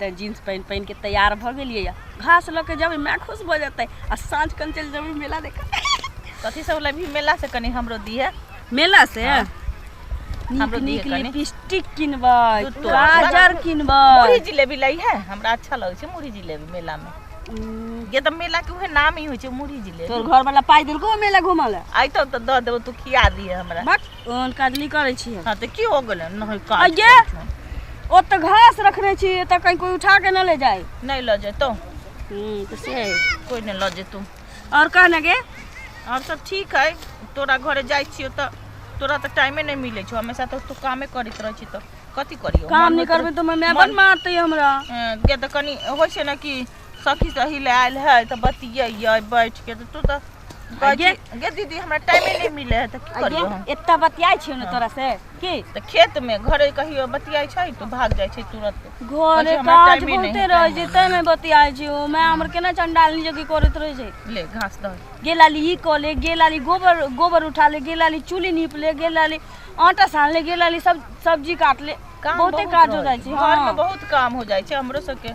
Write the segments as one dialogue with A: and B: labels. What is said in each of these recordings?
A: तऽ जीन्स पहिन पहिन के तैयार भऽ गेलियै यऽ घास लऽ के जेबै माय खुश भऽ जेतै आ साँझ कन चलि जेबै मेला देख कथी सब
B: लेबही मेला से कनी हमरो दिहे मेला से
A: हाँ।
B: हमरो नीक नीक लिपस्टिक किनबै
A: गाजर किनबै मुरही जिलेबी लै
B: है हमरा अच्छा लगै छै मुरही जिलेबी मेला में ये तऽ मेला के उहे नाम ही होइ छै मुरही जिलेबी तोर घर वाला पाइ देलको
A: मेला घुमल आइ तऽ दऽ देबो तू
B: खिया दिहे हमरा ओहन काज नहि
A: करै छी हम हाँ तऽ की हो गेलै
B: नहि काज अइये। करै छौ।
A: ओतऽ घास रखने छी एतऽ कहीं कोई उठा के न ले जाए नहि लऽ जेतौ हम्म,
B: तऽ से
A: है। कोइ नहि लऽ जेतौ
B: और कहने गे
A: आओर सब
B: ठीक है तोरा घरे जाइ छियौ तऽ तोरा तऽ टाइमे नहि मिलै छौ हमेशा तऽ तू कामे करैत रहै छी तऽ कथी करियौ काम मन नहि होइत करबै रहै- तऽ
A: माय मन- बन मारतै हमरा हँ, किया तऽ कनि
B: होइ छै ने कि सखी सही ले आयल है तो बतियै बैठ के तो तू तो गे गे दीदी हमरा टाइम नहीं मिले है तो की करियो हम एत्ता बतियाय छियो ने
A: तोरा से की तो खेत में घरे
B: कहियो बतियाय छै तो भाग जाय छै तुरंत घरे काज
A: बहुते रह जे ते में बतियाय छियो मैं हमर केना चंडाल नि जगी करत रह जे ले घास द
B: गे लाली ई को ले
A: गे लाली गोबर गोबर उठा ले गे लाली चूली नीप ले गे लाली आटा सान ले गे लाली सब सब्जी काट ले बहुते काज हो जाय छै हां बहुत काम
B: हो जाय छै हमरो सब के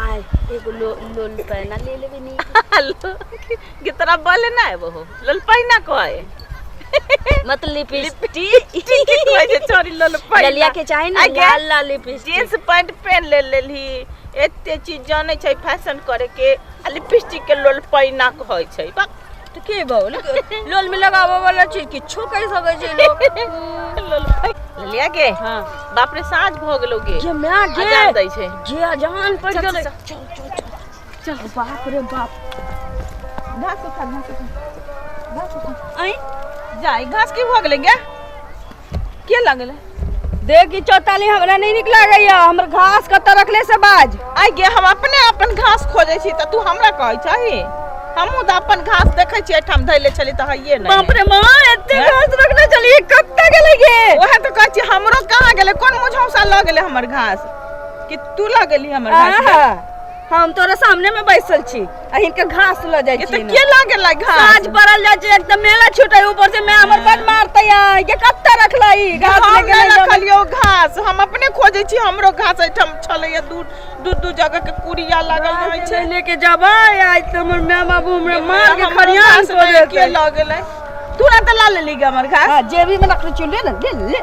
A: आय एगो लो, लोल पैना ले लेबे नी
B: के तोरा बोले ना आबो हो लोल पैना कहे
A: मत लिपस्टिक कहे जे छोरी
B: लोल पैना ललिया के चाहे ना आगे?
A: लाल लाल लिपस्टिक जींस पैंट पहन
B: ले लेली एते चीज जाने छै फैशन करे के आ लिपस्टिक के लोल पैना कहै छै बा तो के बहु
A: लोल में लगावे वाला चीज किछो कह सके छै लोग ललिया
B: के हां बाप रे साँझ भ गेलो गे जे मैं गे अजान
A: दै छै जे
B: अजान पड़ गेलो
A: चल चल चल
B: चल बाप रे बाप घास उठा घास उठा घास उठा आई जाई घास की भ गेले गे के लगले देखी
A: चौताली हमरा नहीं निक लागैय हमर घास कतऽ रखले से बाज आइ गे हम अपने
B: अपन घास खोजे छी तऽ तू हमरा कहै छही हमहूँ तऽ अपन घास देखै छी एहिठाम धैले छली तऽ हइये नहि बाप रे माँ एते हैं?
A: घास रखने चलिए कतऽ गेले गे ओहे तऽ कहै छी हमरो
B: कहाँ गेलै कोन मुझौसा लऽ गेलै हमर घास कि तू लऽ गेली हमर घास आहा, हम तोरा
A: सामने में बैसल छी आ हिनके घास ल जाय ये छी तो के लागे ला
B: घास आज पड़ल जाय छै
A: एकदम मेला छूटे ऊपर से मैं हमर बन मारते है के कत्ता रखलई घास हम लेके नहीं नहीं जाबे। रखलियो घास
B: हम अपने खोजे छी हमरो घास एठाम छलैया दू दू दू जगह के कुड़िया लागल रहै आज छै नहीं लेके जाबे
A: आज तो हमर माँ बाबू हमरा मार के हमरो खरियान घास को नहीं के देते लऽ गेलै
B: तुरंत ला लेली गे हमर घास हाँ, जेबी में रखले चुन ले
A: ना ले ले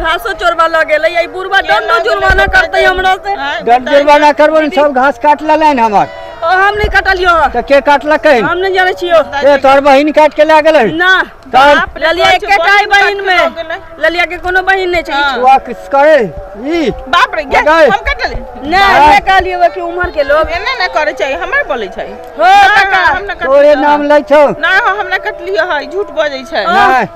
A: घासो चोरबा लग गेलै ई बुढ़वा दंड जुर्माना करतै हमरा से दंड जुर्माना करबो
C: ने सब घास काट लेलैन हमर ओ हम नहीं कटलियो
A: हँ। तऽ के काटलकै
C: हम नहीं जाने छियो
A: ए तोहर बहिन काट
C: के लए गेलै ना तब
A: ललिया एक के काई बहिन में ललिया के कोनो बहिन नहीं छै छुआ किस करे
C: ई बाप रे गे, मगर-
B: हम कट ले ना हमरा कहलियो
A: कि उम्र के लोग एने ना करे छै हमर
B: बोले छै हो ना, ना, काका हम
A: ना कटलियो तोरे हँ। नाम
B: लै छौ
C: ना हो, हम ना कटलियो
B: है झूठ बजै छै नहि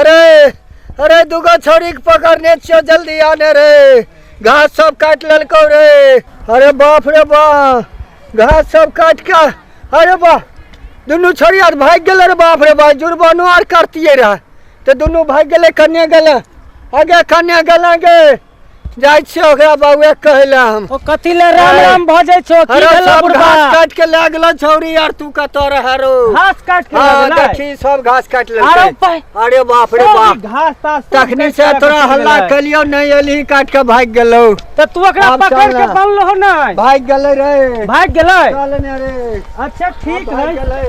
C: अरे अरे दूगो छोरी के पकड़ने छियो जल्दी आने रे घास सब काट ललको रे अरे बाप रे बा घास सब काट के अरे बा दुनू छोरी आर भाग गेल रे बाप रे बा जुर्मानो आर करतिए रहे तो दुनू भाग गेले कन्या गेले आगे कन्या गेले गे जाइ छियै ओकरा बउए कहै लए हम ओ कथी ले राम अरे। राम
D: भजै छो की अरे भेलो सब बुढ़बा घास काट
C: के
D: लए गेलो
C: छौरी यार तू कतऽ रह रो घास काट के हाँ, लगलै।
D: देखी सब घास काट आरो
C: लेलकै पै- अरे बाप
D: रे ओ, बाप
C: घास तास सब तखनी
D: काट से के तोरा रखै हल्ला छलै।
C: कलियो नहीं एलही
D: काट
C: के भाग गेलो तऽ तू ओकरा आब
D: पकड़ चल के ना। बनलो हो
C: नै
D: भाग गेलै
C: रे
D: भाग गेलै
C: चल
D: ने रे अच्छा ठीक
C: आब
D: भाग है गेलै